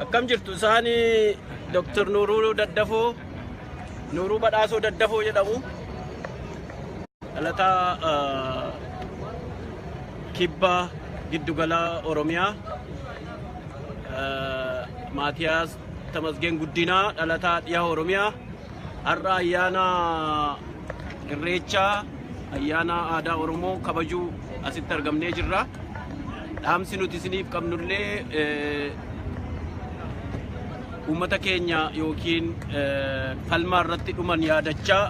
Akkam jirtu isaani Dr. Nuuruu Daddafoo Nuuruu Badhaasoo Daddafoo jedhamu dhalataa ah, kibba giddugala Oromiyaa ah, Maatiyaas Tamasgeen Guddinaa dhalataa dhiyaa Oromiyaa Har'a ayyaana Irreechaa ayyaana aadaa Oromoo kabajuu asitti argamnee jirra. Dhaamsi nuti isiniif qabnullee eh, uummata keenya yookiin eh, falmaa irratti dhuman yaadachaa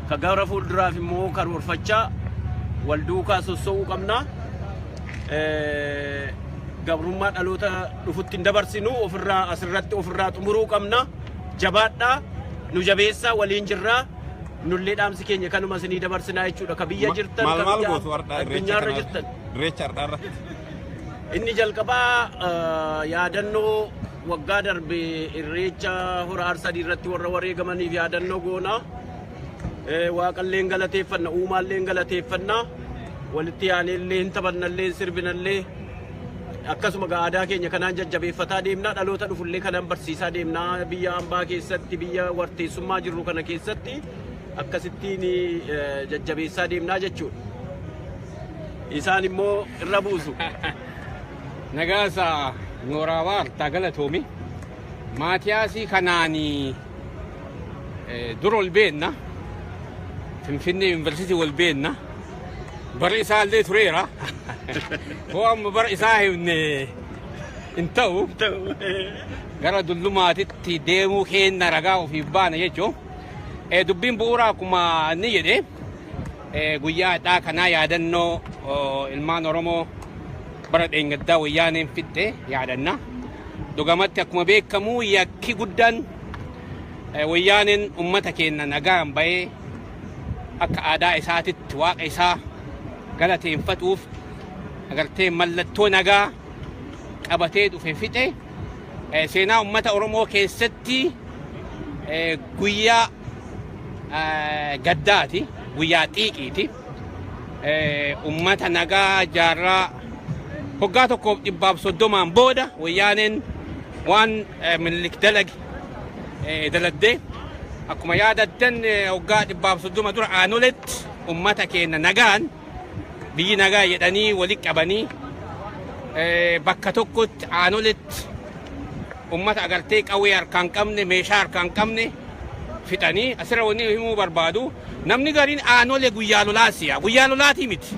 ka gara fuulduraaf immoo karoorfachaa wal duukaa sossoo'uu qabna. Eh, Gabrummaa dhaloota dhufutti hin dabarsinu ofirraa asirratti ofirraa xumuruu qabna. Jabaadhaa nu jabeessaa waliin jirraa nullee dhaamsi keenya kanuma isinii dabarsinaa jechuudha ka biyya jirtan Maal ka maal biyya gootu har'aa irreecha addunyaarra kana jirtan irreecha har'aa irratti? inni jalqabaa eh, yaadannoo waggaa darbe irreecha hora arsadii irratti warra wareegamaniif yaadannoo goona Eh, waaqalleen galateeffanna uumaalleen galateeffanna walitti aaneellee hin taphannallee hin sirbinallee akkasuma gaa aadaa keenya kanaan jajjabeeffataa deemnaa dhaloota dhufullee kanaan barsiisaa deemnaa biyya ambaa keessatti biyya warteessummaa jirru kana keessatti akkasittiin eh, jajjabeessaa deemnaa jechuudha. Isaan immoo irra buusu. Nagaasa Nooraa Waartaa Galatoomi. Maatiyaasii kanaanii eh, dura ol beenna. Finfinnee Yuunivarsiitii ol beenna. Bara isaa illee tureera. Hoo amma bara isaa himne hin ta'u. Gara dullumaatitti deemuu keenya ragaa ofiif baana jechuun dubbiin bu'uuraa akkuma inni jedhe guyyaa hadhaa kanaa yaadannoo ilmaan Oromoo bara dheengaddaa wayyaaneen fixxe yaadanna. Dhugamatti akkuma beekamu yakki guddaan wayyaaneen uummata keenya nagaan bahee akka aadaa isaatitti waaqa isaa galateenfatuuf agartee mallattoo nagaa qabatee dhufe fixe Eh, seenaa ummata Oromoo keessatti eh, guyyaa eh, gaddaati guyyaa xiiqiiti Eh, ummata nagaa jaarraa hoggaa tokkoof dhibbaaf soddomaan booda wayyaaneen waan eh, Minilik dalage eh, daladdee akkuma yaadattan eh, waggaa dhibbaaf soddoma dura aanoletti ummata keenya nagaan biyyi nagaa jedhanii wali qabanii eh, bakka tokkotti aanoletti ummata agartee qawwee harkaan qabne meeshaa harkaan qabne fixanii asirra wanni himuu barbaadu namni gariin aanolee guyyaa lolaa si'a guyyaa lolaatii miti.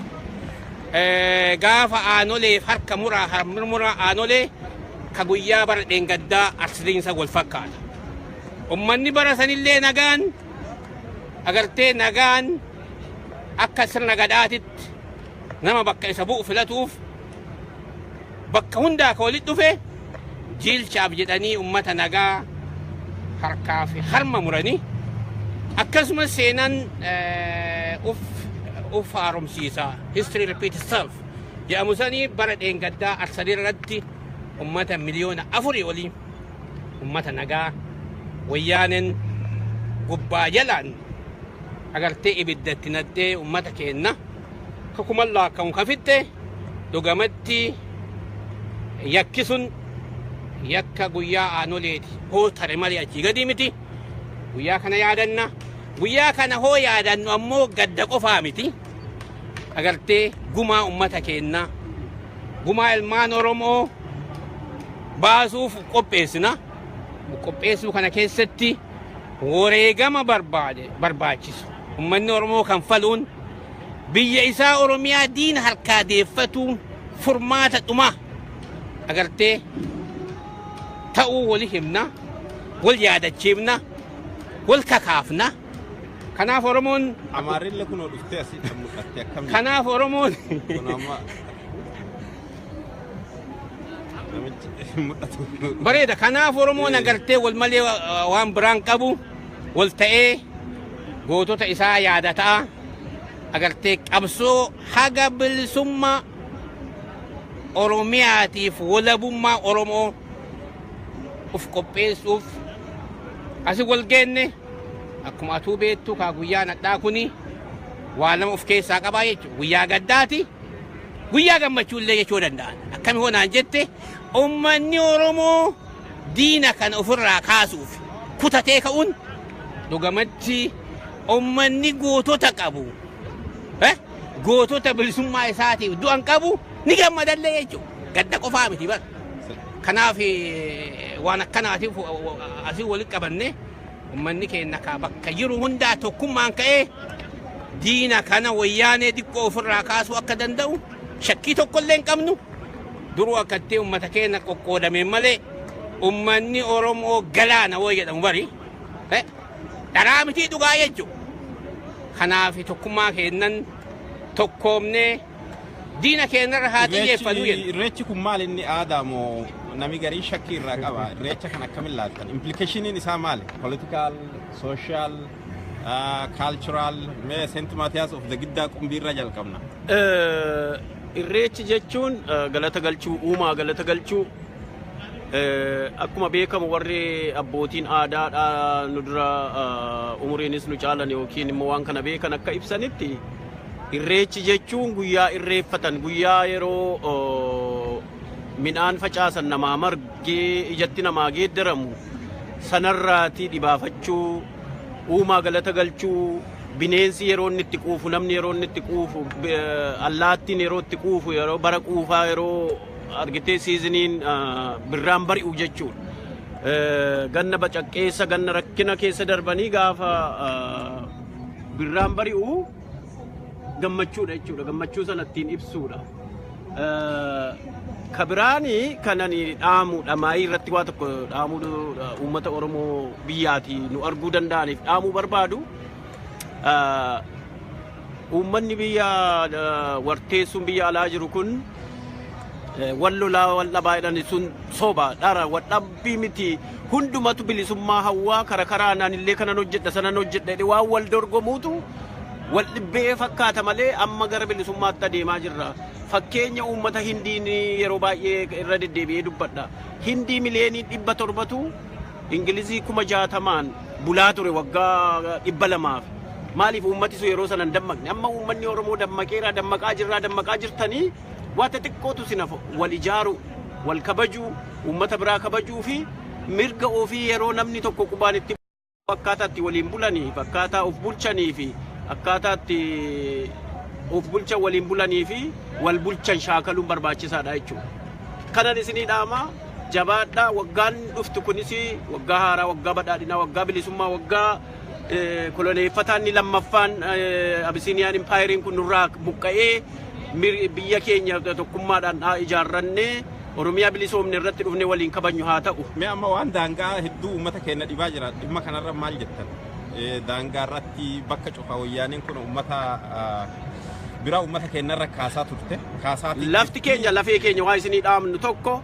Eh, gaafa aanoleef harka muraa harmurmuraa aanolee ka guyyaa bara dheengaddaa arsitiinsa wal fakkaata. Ummanni bara sanillee nagaan agartee nagaan akka sirna gadaatitti nama bakka isa bu'u filatuuf bakka hundaa ka walitti dhufe jiilchaaf jedhanii ummata nagaa harkaa fi harma muranii akkasumas seenaan eh, uf uf haaromsiisa history repeat itself jedhamu sanii bara dheengaddaa Arsadee irratti ummata miliyoona afurii olii ummata nagaa wayyaaneen gubbaa jalaan agartee ibidda itti naxxee ummata keenna ka kuman laakkamu ka fixxe dhugamatti yakki sun yakka guyyaa aanoleeti hoo tare malee achii gadii miti guyyaa kana yaadanna guyyaa kana hoo yaadannu ammoo gadda qofaa miti agartee gumaa ummata keennaa gumaa ilmaan Oromoo baasuuf qopheessina. Qopheessuu kana keessatti wareegama barbaade barbaachisu ummanni Oromoo kan faluun biyya isaa Oromiyaa diina harkaa deeffatuun furmaata dhumaa agartee ta'uu wali himna wal yaadachiifna wal kakaafna. Kanaaf Oromoon Amaarille kunoo dhuftee asii kan mul'atte akkam kanaaf Oromoon kun amma namichi mul'atu bareeda kanaaf Oromoon agartee wal malee uh, waan biraan qabu wal ta'ee gootota isaa yaadataa agartee qabsoo haga bilisummaa Oromiyaatiif walabummaa Oromoo of qopheessuuf asi wal geenne Akkuma atuu beektu kaa guyyaan hadhaa kuni waa lama of keessaa qabaa jechuudha. Guyyaa gaddaati, guyyaa gammachuu illee jechuu danda'a. Akkami hoo naan jette uummanni Oromoo diina kana ofirraa kaasuuf kutatee ka'uun dhugamatti uummanni gootota qabu. Eh? Gootota bilisummaa isaatiif du'an qabu ni gammadallee jechuudha. Gadda qofaa miti bara. Kanaaf eh, waan akkanaatiif eh, asii walitti qabannee Ummanni keenya kaa bakka jiru hundaa tokkummaan ka'ee diina kana wayyaanee xiqqoo ofirraa kaasuu akka danda'u shakkii tokkollee hin qabnu. Duruu akkatti ummata keenya qoqqoodameen malee ummanni Oromoo galaana woo jedhamu bari eh, dharaa mitii dhugaa jechuudha. Kanaaf tokkummaa keennan tokkoomnee Diina keenya irra haa xiyyeeffannu jenna. Irreechi kun maal inni aadaa moo nami garii shakkii irraa qaba? Irreecha kan akkamiin laattan? Implikeeshiniin isaa maali? Politikaal, sooshaal, kaalchuraal, mee Seent Maatiyaas of Giddaa Qumbii irraa jalqabna. Irreechi jechuun galata galchuu, uumaa galata galchuu. Akkuma beekamu warri abbootiin aadaadhaa nu dura umuriinis nu caalan yookiin immoo waan kana beekan akka ibsanitti Irreechi jechuun guyyaa irreeffatan guyyaa yeroo midhaan facaasan namaa margee ijatti namaa geeddaramu sanarraatii dhibaafachuu uumaa galata galchuu bineensi yeroo inni itti quufu namni yeroo inni itti quufu allaattiin yeroo itti quufu yeroo bara quufaa yeroo argitee siiziniin birraan bari'u jechuudha. Ganna bacaqqeessa ganna rakkina keessa darbanii gaafa Birraan bari'u gammachuudha jechuudha. Gammachuu sana ittiin ibsuudha. Ka biraani kanan dhaamu dhamaayii irratti waa tokko dhaamuu uummata Oromoo biyyaati nu arguu danda'aniif dhaamuu barbaadu. Uummanni biyya warteessuun biyya alaa jiru kun wal lolaa wal dhabaa jedhan sun soba dhara wal dhabbii miti. Hundumatu bilisummaa hawwaa kara karaan anillee kanan hojjedha sanan hojjedha jedhee waan wal dorgomuutu wal dhibbee fakkaata malee amma gara bilisummaatti adeemaa jirra. Fakkeenya uummata Hindiin yeroo baay'ee irra deddeebi'ee dubbadha. Hindii miliyoonii dhibba torbatu Ingilizii kuma jaatamaan bulaa ture waggaa dhibba lamaaf. Maaliif uummati sun yeroo sana hin dammaqne? Amma uummanni Oromoo dammaqeera, dammaqaa jirraa, dammaqaa jirtanii Waa xixiqqootu isin hafa, wal ijaaruu, wal kabajuu, uummata biraa kabajuu fi mirga ofii yeroo namni tokko qubaan itti bu'u akkaataa itti waliin bulaniif, akkaataa of bulchanii fi akkaataa itti of bulchan waliin bulanii fi wal bulchan shaakaluun barbaachisaadha jechuudha. Kanan isinii dhaama jabaadhaa waggaan dhuftu kunis waggaa haaraa, waggaa badhaadhinaa, waggaa bilisummaa, waggaa eh, koloneeffataan inni lammaffaan eh, Abisiiniyaan impaayeriin kun nurraa buqqa'ee biyya keenya tokkummaadhaan haa ijaarrannee Oromiyaa bilisoomne irratti dhufne waliin kabajnu haa ta'u. Mee amma waan daangaa hedduu uummata keenya dhibaa jira. Dhimma kanarra maal jettan? Daangaa irratti bakka cufa wayyaaniin kun uummata biraa uummata keenyarra kaasaa turte. Lafti keenya lafee keenya waa isinii dhaamnu tokko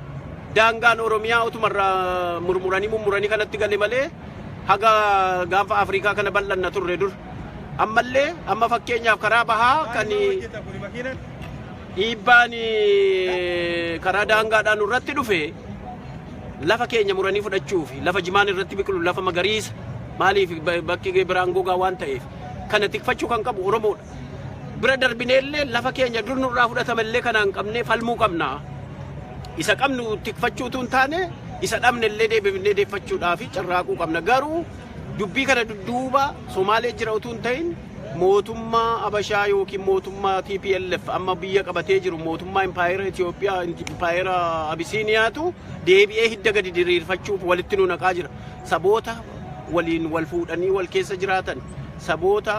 daangaan Oromiyaa utumarra murmuranii mummuranii kanatti gale malee haga gaanfa Afrikaa kana bal'anna turre dur. Ammallee amma fakkeenyaaf karaa bahaa kan dhiibbaan karaa daangaadhaan irratti dhufe lafa keenya muranii fudhachuu fi lafa jimaan irratti biqilu lafa magariisa maaliif bakki biraan gogaa waan ta'eef kana tikfachuu kan qabu Oromoodha. Bira darbineellee lafa keenya dur nurraa fudhatamellee kanaan qabnee falmuu qabna. Isa qabnu tikfachuutu hin taane isa dhabnellee deebifnee deeffachuudhaa fi carraaquu qabna. Garuu Dubbii kana dudduuba Somaalee jira utuu hin ta'in mootummaa Abashaa yookiin mootummaa TPLF amma biyya qabatee jiru mootummaa Impaayera Itoophiyaa Impaayera Abisiiniyaatu deebi'ee hidda gadi diriirfachuuf walitti nu naqaa jira. Saboota waliin wal fuudhanii wal keessa jiraatan saboota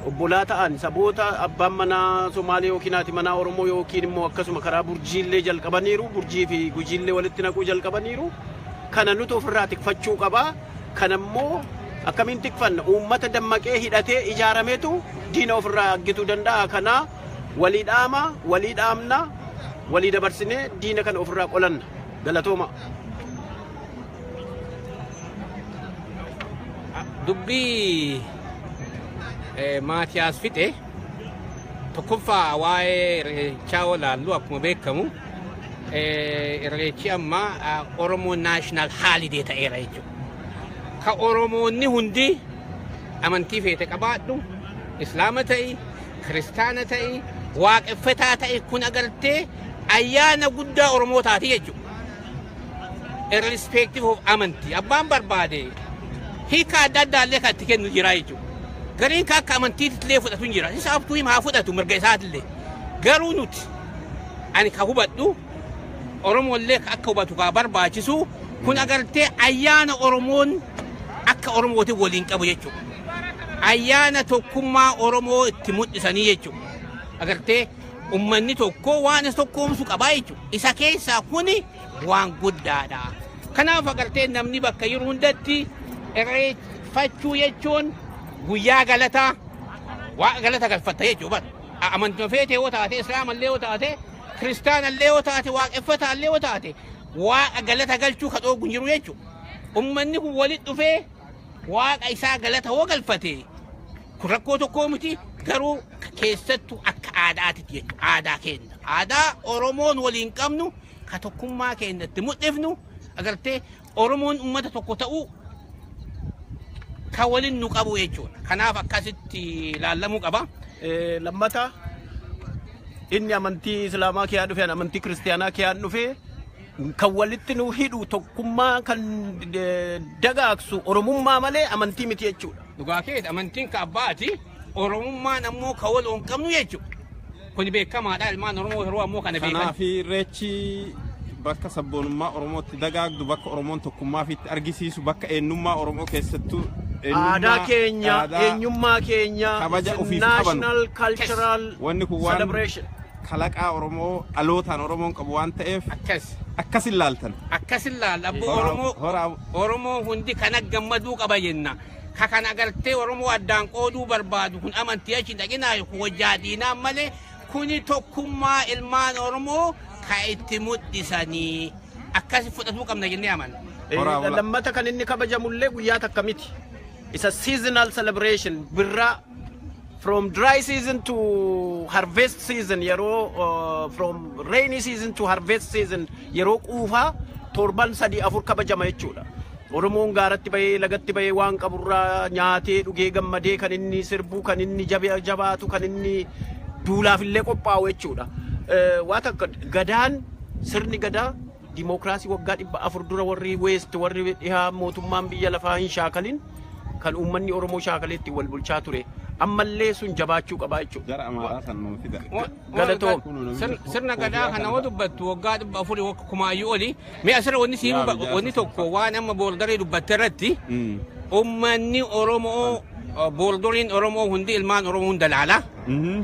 obbolaa ta'an saboota abbaan manaa Somaalee yookiin haati manaa Oromoo yookiin immoo akkasuma karaa burjiillee jalqabaniiru burjii fi gujiillee walitti naquu jalqabaniiru. Kana nutu ofirraa tikfachuu qaba. Kana immoo akkamiin tikfanna? Uummata dammaqee hidhatee ijaarametu diina ofirraa aggituu danda'a. Kana walii dhaama, walii dhaamna, walii dabarsinee diina kana ofirraa qolanna. Galatooma. Dubbii eh, Maatiyaas fixe. Tokkoffaa waa'ee irreechaa yoo ilaallu akkuma beekamu irreechi amma Oromoo naashinaal haalidee ta'eera jechuudha. Ka Oromoonni hundi amantii feete qabaadhu, Islaama ta'i, Kiristaana ta'i, Waaqeffataa ta'i kun agartee ayyaana guddaa Oromoo taati jechuudha. irrespective of amantii abbaan barbaade hiika adda addaa illee kan itti kennu jira jechuudha. Gariin kan akka amantiitti illee fudhatu hin jira. Isa abtuu himaa fudhatu mirga isaati illee. Garuu nuti ani kan hubadhu Oromoo illee akka hubatu kan barbaachisu kun agartee ayyaana Oromoon akka Oromootiin waliin qabu jechuudha. Ayyaana tokkummaa Oromoo itti mul'isanii jechuudha. Agartee Ummanni tokko waan isa tokkoomsu qabaa jechuudha. Isa keessaa kuni waan guddaadha. Kanaaf agartee namni bakka yeroo hundatti irreeffachuu jechuun guyyaa galataa waa galata galfatta jechuudha. Amantuma feetee yoo taate, islaamallee yoo taate, kiristaanallee yoo taate, waaqeffataallee yoo taate, waaqa galata galchuu ka dhoogu hin jiru jechuudha. Ummanni kun walitti dhufee waaqa isaa galata hoo galfate kun rakkoo tokkoo miti garuu keessattu akka aadaatitti jechuudha. Aadaa keenya. Aadaa Oromoon waliin qabnu ka tokkummaa keenya itti mul'ifnu agartee Oromoon uummata tokko ta'uu ka waliin nu qabu jechuudha. Kanaaf akkasitti ilaalamuu qaba. Eh, Lammata inni amantii Islaamaa kiyaan dhufe, ani amantii Kiristiyaanaa kiyaan dhufe kan walitti nu hidhu tokkummaa kan eh, dagaagsu Oromummaa malee amantii miti jechuudha. Dhugaa keeti amantiin ka abbaati. Oromummaan ammoo ka wal hin qabnu jechuudha. Kuni beekamaadha ilmaan Oromoo yeroo ammoo kana beekan. Kanaaf irreechi bakka sabboonummaa Oromootti dagaagdu, bakka Oromoon tokkummaa ofiitti argisiisu, bakka eenyummaa Oromoo keessattuu aadaa keenya, eenyummaa keenya, kabaja ofiif qabanu. national cultural Wanni kun waan celebration. kalaqaa Oromoo dhalootaan Oromoon qabu waan ta'eef Akkas. akkas ilaaltan. Akkas ilaalla abboo Hora- Oromoo. hora- Oromoo hundi kana gammaduu qaba jenna. Ka kana gartee Oromoo addaan qooduu barbaadu kun amantii achi hin dhaqinaa yookiin wajjaa diinaa malee kuni tokkummaa ilmaan Oromoo ka itti mul'isanii akkasi fudhatuu qabna jennee amanna. Horaa Eh, bulaa. Lammata kan inni kabajamullee guyyaa takka miti. Isa seasonal celebration birraa from dry season to harvest season yeroo uh, from rainy season to harvest season yeroo quufaa torban sadii afur kabajama jechuudha. Oromoon gaaratti bahee lagatti bahee waan qaburraa nyaatee dhugee gammadee kan inni sirbuu kan inni jabe- jabaatu kan inni duulaaf illee qophaa'u jechuudha. Eh, Waan akka gadaan sirni gadaa Dimookiraasii waggaa 400 dura warri Weest warri dhihaa mootummaan biyya lafaa hin shaakalin kan uummanni Oromoo shaakalee ittiin wal bulchaa ture. Ammallee sun jabaachuu qabaa jechuudha. Gara Amaaraa san nuu fida. Galatoom. Sirna gadaa kana yoo dubbattu waggaa dhibba afurii wagga kumaayyuu oli mee asirra wanni siin Yaa, yaa, wanni tokko waan amma boordarii dubbatte irratti Mm. ummanni Oromoo boordoriin Oromoo hundi ilmaan Oromoo hunda laala. Mhm.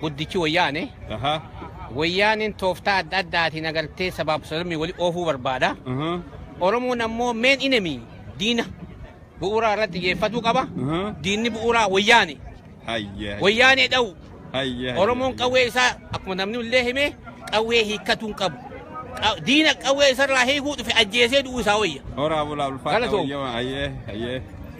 guddichi wayyaane Aha. wayyaaneen tooftaa adda addaatiin agartee sabaaf sablammii wali oofuu barbaada. Aha. Oromoon ammoo meen inemi diina bu'uuraa irratti xiyyeeffatuu qaba. Aha. Diinni bu'uuraa wayyaane. Hayya. Wayyaanee dha'u. Hayya. Oromoon qawwee isaa akkuma namni illee hime qawwee hiikkachuu hin qabu. Qa- Diina qawwee isarraa hiikuu dhufe ajjeesee du'uu isaa wayya. Horaa bulaa ulfaata Galatoo. wayyamaa. Hayyee. Hayyee.